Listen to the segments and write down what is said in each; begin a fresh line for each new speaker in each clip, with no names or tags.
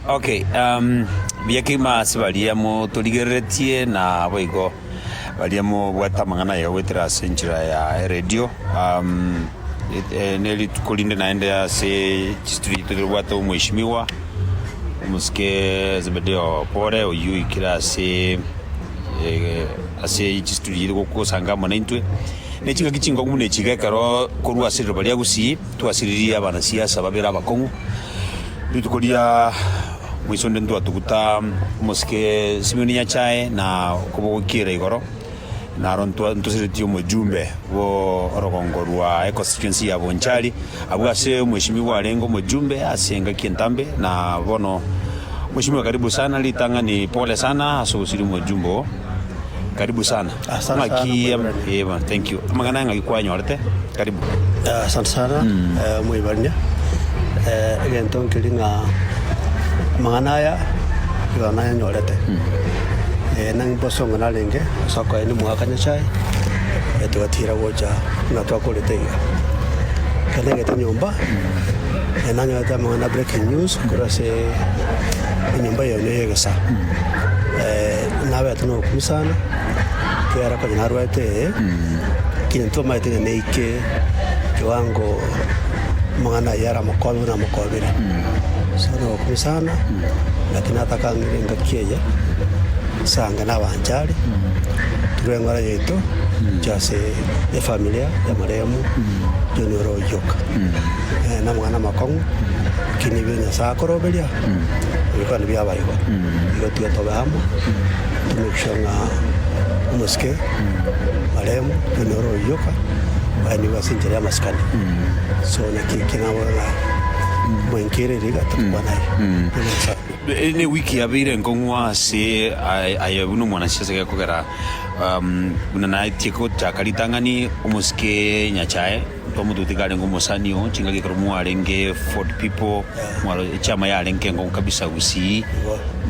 Okay, um, buya kegima ase baria motorigereretie na boigo baria mobwate amang'ana aye goetera ase enchera ya eredio um, it- eh, ne rituko rinde naende ase chisitiri yaito tobwate omweshimiwa omosike Zebedeo Pore oyio ikire ase eh, ase chisitiri yaito gokosanga amo naintwe ne ching'aki chinkongu buna echiga ekero korwa ase riroba ria Gusii twasiririe abanasiasa babere abakong'u Rituko ria maiso onde ntwatuguta omosike Simioni Nyasae na okobogokiera igoro, naro ntwa- ntoseretie omojumbe bwo orogongo rwa econstituency ya Bonchari, abwo ase omweshimiwa arenge omojumbe ase engaki entambe, na bono mweshimiwa karibu sana, ritang'ani pole sana ase ogosiria omojumbe oo, karibu sana. Asante Amang'aki sana ya- mwebali. eh, bwana, thank you. Amang'ana ang'aki kwanyorete? Karibu. Eh, asante sana eh, mwibarire eh, egento nkeri ng'a amang'ana aya igoro nayanyorete eh, nang'e mboso ng'a narenge soko ene mwaka nyasaye eh, twatira gocha ng'a twakorete iga kende ngete nyomba eh, nanyorete amang'ana breaking news korwa ase enyomba eye ne egesa Nabete nokuru sana, ekiagera konya narwete ee, lakini ntomanyete ng'a neike kiwango omong'ana aye aramokobe buna amokobire. So nokuru sana, lakini natakangire engaki eye, ase ange nabanchare, tore eng'ora yaito, inche ase efamilia y'omoremo tonya ore oyoka. Nere nomong'ana omokong'u, lakini ebio Nyasae akoroberia, ebikwana ebiabae igo. Nigo tiga tobe amo, timwechusha ng'a omosike Mariamu nonyore oyoka oenigwe ase enchera y'amasikani. So naki eke nabora ng'a mwenke ere riga tokwana aye. Buna Nyasae. E- ne wiki yabeire nkong'wa ase aye- aye buna omwanasiasa gekogera um, buna naetie gochaka ritang'ani omosike nyachae Omotuti karenge omosani oo chingaki ekero mwarenge Ford people mwaro echiama yarenge enkong'u kabisa Gusii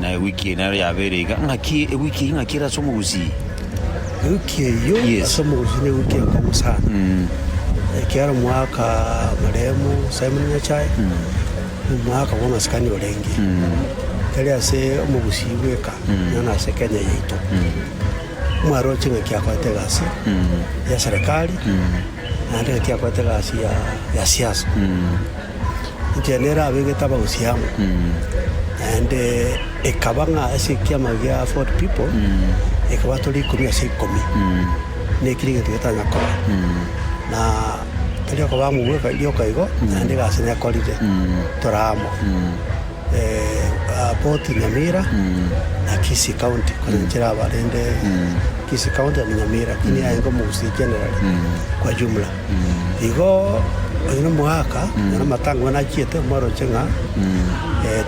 na ewiki eye nero yabeire iga ng'aki ewiki eye ng'aki ere ase omogusii Ewiki eyio Yes. ase omogusii na ewiki enkong'u sana ekiaro omwaka marehemu Simon Nyachae omwaka bwa masikani orenge tari ase omogusii bweka nonya ase Kenya yaito. Mwarooche ng'a ki akorete egasi ya serekari, naende ng'a ki akorete egasi ya ya siasa. Inche nere abegete abagusii amo, naende ekaba ng'a ase ekiama gia Ford People, ekaba tore ikomi ase ikomi, na ekio negento getanya koba. Na tari okoba amo bweka rioka igo, naende egasi nekorire tore amo. Aboti Nyamira, na Kisii County konya nchire aba rende Kisii County and Nyamira lakini aye nigo omogusii generally kwa jumla. Igo oyo na omogaka nonye amatang'ani achiete omoroche ng'a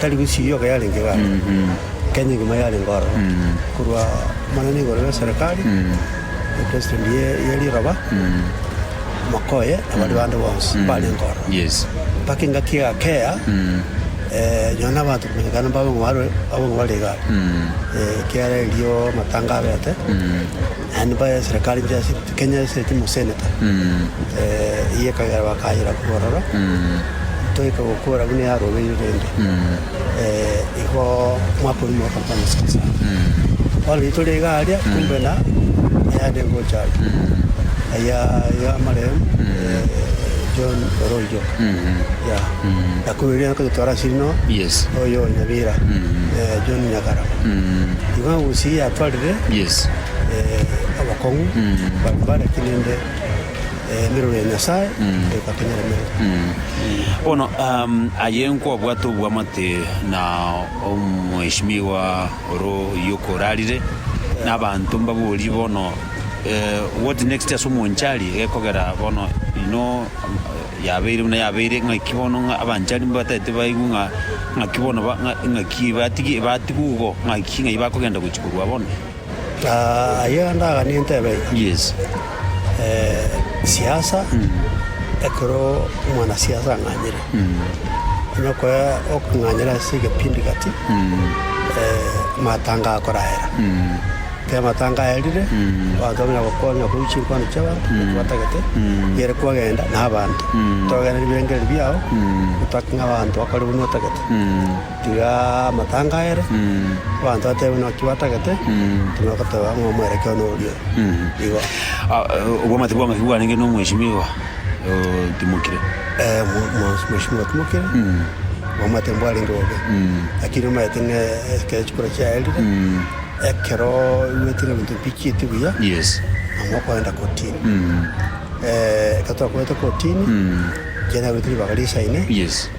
tari Kisii yoka yarenge iga are, Kenya engima yarenge ororo korwa omonene igoro y'eserekari, President ye riroba. Omoko oye na baria bande bonsi mbarenge ororo, mpaka engaki egakea, nyuma nabanto komenyekana mbabe ng'a bare abang'u bare igare, ekiagera erio amatanga abete, naende mbae eserekari nche ase rit Kenya ase rit moseneta. Eyio ekagera bakayera korwa ororo, ntoike gokora buna yarobeirwe rende. igo omwaka oyio mwakorwa kwa Yeso Kristo. Bono intwe tore iga aria, kumbe na eyande egocha aria, aya y'amarehemu John Oroijo, ya na kumbe riria nako totwara ase rino, Yes. oyo Nyabira, John Nyakarabo. Igo agochia yatwarire Yes. abakong'u baria bare, lakini inde. Emerero ya Nyasae egotenyeremerwa. Bono aye nkwabwate obwamate na omweshimiwa oro oyio okorarire, na abanto mbaborie bono what next ase omonchari gekogera bono ino yabeire buna yabeire ng'aki bono ng'a abanchari mbatagete baigwe ng'a ng'aki bono ng'a ng'aki batigwe igo ng'aki ng'ai bakogenda gochia korwa bono. Ayio yonde aganie ntebe Yesu, siasa ekero omwana siasa ang'anyire, onye okoya okong'anyera ase egepindi gati matanga akoraera. Ekero matanga aerire, abanto bamanya gokwana nonya korwa chinkwana chia abanto ekero batagete, riere kwagenda na abanto. Togenda nebirengererio biao, otake ng'a abanto bakore buna otagete. Tiga amatanga aere, abanto batebe naki batagete, timanya koteba ng'a omwerekio one oria igo. Obwamate bwa ng'aki bwarenge n'omwesimiwa otimokire. Eh, mwa- mwa- mwesimiwa otimokire, obwamate mbwarenge bobe, lakini omanyete ng'a ekero chikura chiaerire, ekero oigwete ng'a ebinto mbichieti buya, Yes. nabo okoenda kotini. ekero twakorete kotini, chiaye naberete ribaga risaine. Yes.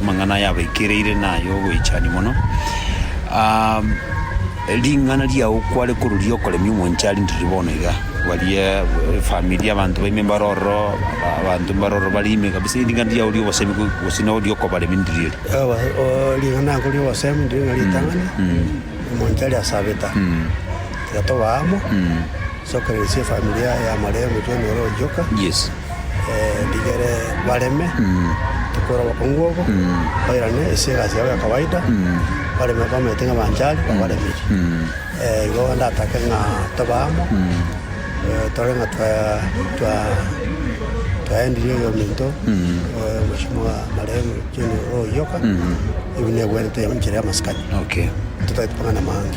Amang'ana aya abaikereire nay'ogoichani mono, ring'ana riao kware koruria okoremia omonche arindiriri bono iga. Baria efamiri abanto baime mbare ororo, abanto mbare ororo bare ime kabisa ring'ana riao ri'obosemi go- gose nao riokobaremia ndiriri eri. Ewa, oo ring'ana oko ri'obosemi ndiri ng'a ritang'ani, omonto aria asabeta, tiga tobe amo. Sokereresia efamilia ya Maria omotwene ore oyoka, rigere bareme tokwera obokungu obo, bairane ase egasi yabo ya kawaida, bareme babaete ng'a banchari babaremiri. Igo ndatake ng'a tobe amo, tore ng'a twaendirie oyominto omochie mwa Maria omotwene ore oyoka, ebi negwenerete enchera y'amasikani, totaeti mang'ana amange.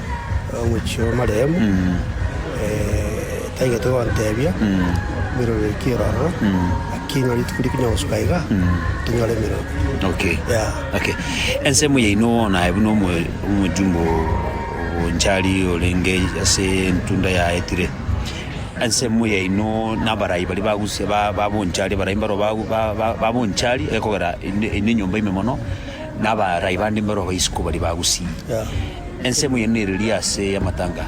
omochie omoreemu, taigetwe gontebia emeroro ere kera ororo, lakini onye rituko rikonye gosuka iga, tonyore emeroro. Okay. Yeah. Okay. Ensemo yaino bono aye buna omo- omojumbe o- onchari orenge ase entunda ya etire, ensemo yaino na abarai baria bagusia ba- babonchari abarai mbaro bagu- ba- ba- babonchari ekogera inde inde enyomba ime mono. Nabarai bande imbero baisiko baria bagusii. Ensemo eye nereri ase amatanga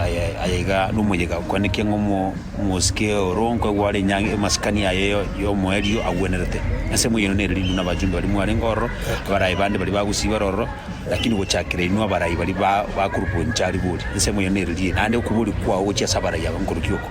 aya aya iga nomoyega okwaneke ng'a omo omosike oro nkoigwa are enyangi amasikani aye yo yomoerio agwenerete. Ensemo eye nereri buna abachumbe baria mwarenge ororo, abarai bande baria bagusii bare ororo, lakini gochakera inwe abarai baria ba ba group enchari bori. Ensemo eye nereri eye, naende okobori kwao gochia ase abarai aba nkorokio oko.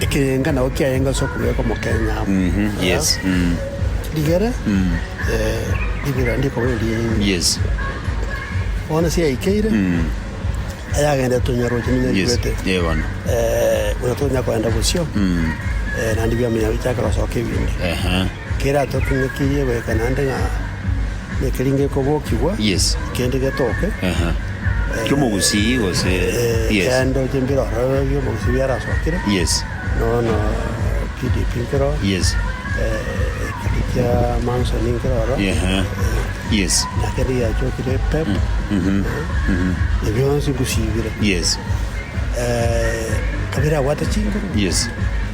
Ekeyenga nao kiayenga ase okobeka omokenya amo. Mh-hm, yes, mm. Rigere, eh, ribira ndikoba eriaino. Yes. Bono ase yaikeire, Mm. ayagendete tonyaroche Yes, nonyaigwete. eh, bono. Eh, buna tonya koenda bosio, Mm. eh, naende biamenya bichake gosoka ebinde. Ehe. Keratotinyetirie goika naende ng'a nekeri ngekobokigwa, Yes. kende getoke. Aha. Kiomogusii gose? Eh, Yes. kende oche mbire ororo bi'omogusi biarasokire. Yes. Bono PDP nkere oro. Yes. Eh, ekeri kia Manson nkere oro. Aha. Eh, Yes. na kende giachokire pep. Mhm. Mhm. Ebio bionsi ngosibire. Yes. Eh, kabere abwate chinguru. Yes.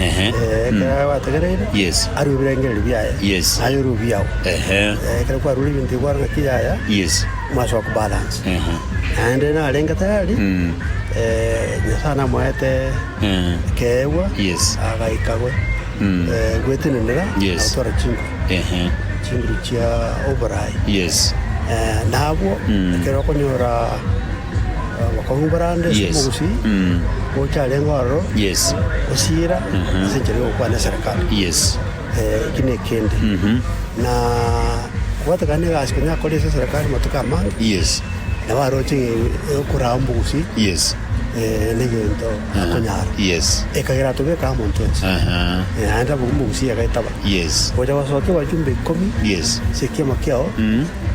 Ehe. Eh, Mm. ekero gwategereire Yes. arue ebirengererio biaye Yes. naye orue ebiao Ehe. Eh, ekero kwarure ebinto ebio kwarora ng'aki yaya Yes. mwaso wa kubalance Ehe. naende narenge tayari Mm. eh, nyasaye namoete Eh. ekeegwa Yes. agaikagwe Mm. eh, gwetenenera Yes. na gotwara chinguru Ehe. chinguru chia oborai Yes. Eh, nabwo Mm. ekero okonyora Bakaungora ande ase omogusii ocharenge ororo gosiira ase enchera y'ogokwana eserekari. Eki nekende, na gwatakana negasi konya akore ase eserekari amatuko amange, nabo aroche okoraa omogusii negento akonyara, ekagera atobeke amo intwe inche. Naende abwo omogusii agetaba, Ogocha gosokia abachumba ikomi ase ekioma kiao.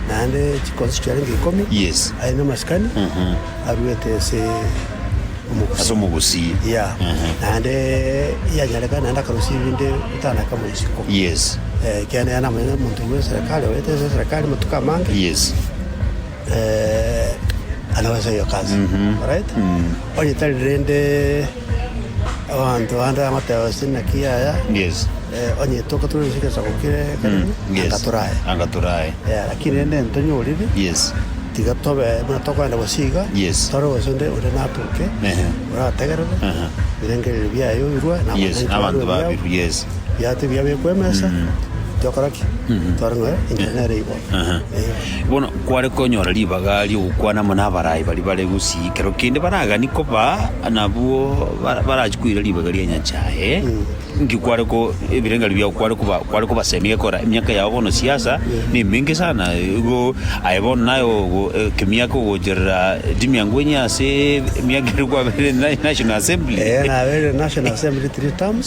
naende chikonsi chiarenge ikomi Yes. aye namasikani aruete ase omogusi Ase omogusi. ya Ehe. naende yanyarekana naende akarusia ebinde gotana kama isiko Yes. Eh, ekiagera yari namanyete omonto oyo eserekari orete ase eserekari amatuko amange Yes. eh, anabasa eyo kasi alright onye tari rende Abanto bande bagoteba, Gose naki aya? Onye tokatura gose egesaku kere ekeremu, anga torae. Anga torae. Lakini rende ntonyoriri, tiga tobe buna tokorenda gose iga, tore gose onde ore natoke, orategerere ebirengererio biaye obirue, na abanto babirue biago biato ebiya bekwe emesa, tokora ki? Tore ng'a enchera nere igo. Aha. Bono kware konyora ribaga ri'ogokwana amo n'abaraai baria bare gusii ekero kende baragani koba nabwo bara- barachie koira ribaga ria Nyanchae, nki kware ko ebirengererio biao kware koba kware kobasemia egekora emiaka yao bono siasa nemenge sana igo aye bono naye ogo ekemiaka ogocherera Timianguenya ase emiaka eria kwaberire naye National Assembly. Eeh naberire National Assembly three terms.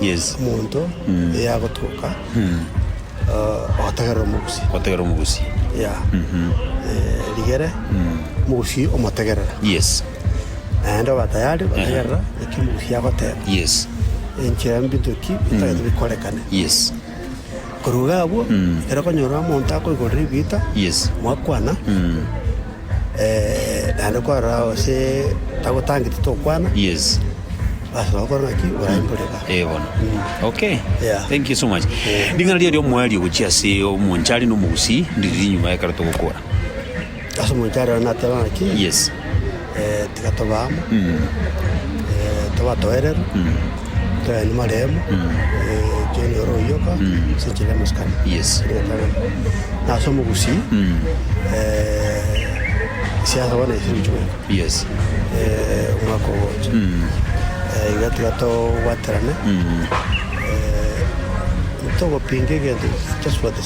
Yes. Omonto eyagotoka ogotegerera omogusie. Ogotegerera omogusie. Yeah. Rigere omogusie omotegerera. Yes. Naende obe tayari gotegerera eki omogusie agoteba. Yes. Enchera mbinto ki bitagete bikorekane. Yes. Koruga agwo, ekero okonyora omonto akoigorera ebiita, mwakwana, naende kwarora gose tagotangeti tokwana, bas ogokora ng'aki oraimoria igaa. Ee bono. Okay. Yeah. Thank you so much. Ring'ana riria ria omoerio gochia ase omonchari na omogusii ndiri rinyuma ekero togokora. Ase omonto ere onye nateba ng'aki, Yes. tiga tobe amo, tobe atoereru, toyanie amaremo, ekiagera noro oyoka ase enchera y'amasikani. Yes. Na ase omogusii, siasa bono echire gochia goika. Yes. omwaka ogocha. Iga tiga tobwaterane, togopinga egento tosubatisane.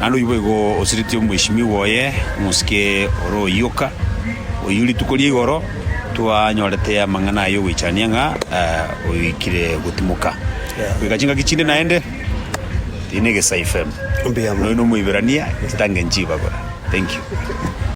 Naende oyio boigo osiretie omoishimiwa oye, omosike ore oyio oka, oyio rituko ria igoro twanyorete amang'ana aye ogoichania ng'a oikire gotimoka. Goika chingaki chinde naende, eye ne Egesaifm. Mbuya mono. Noyo nomoiberania, chitange nchibagora. Thank you.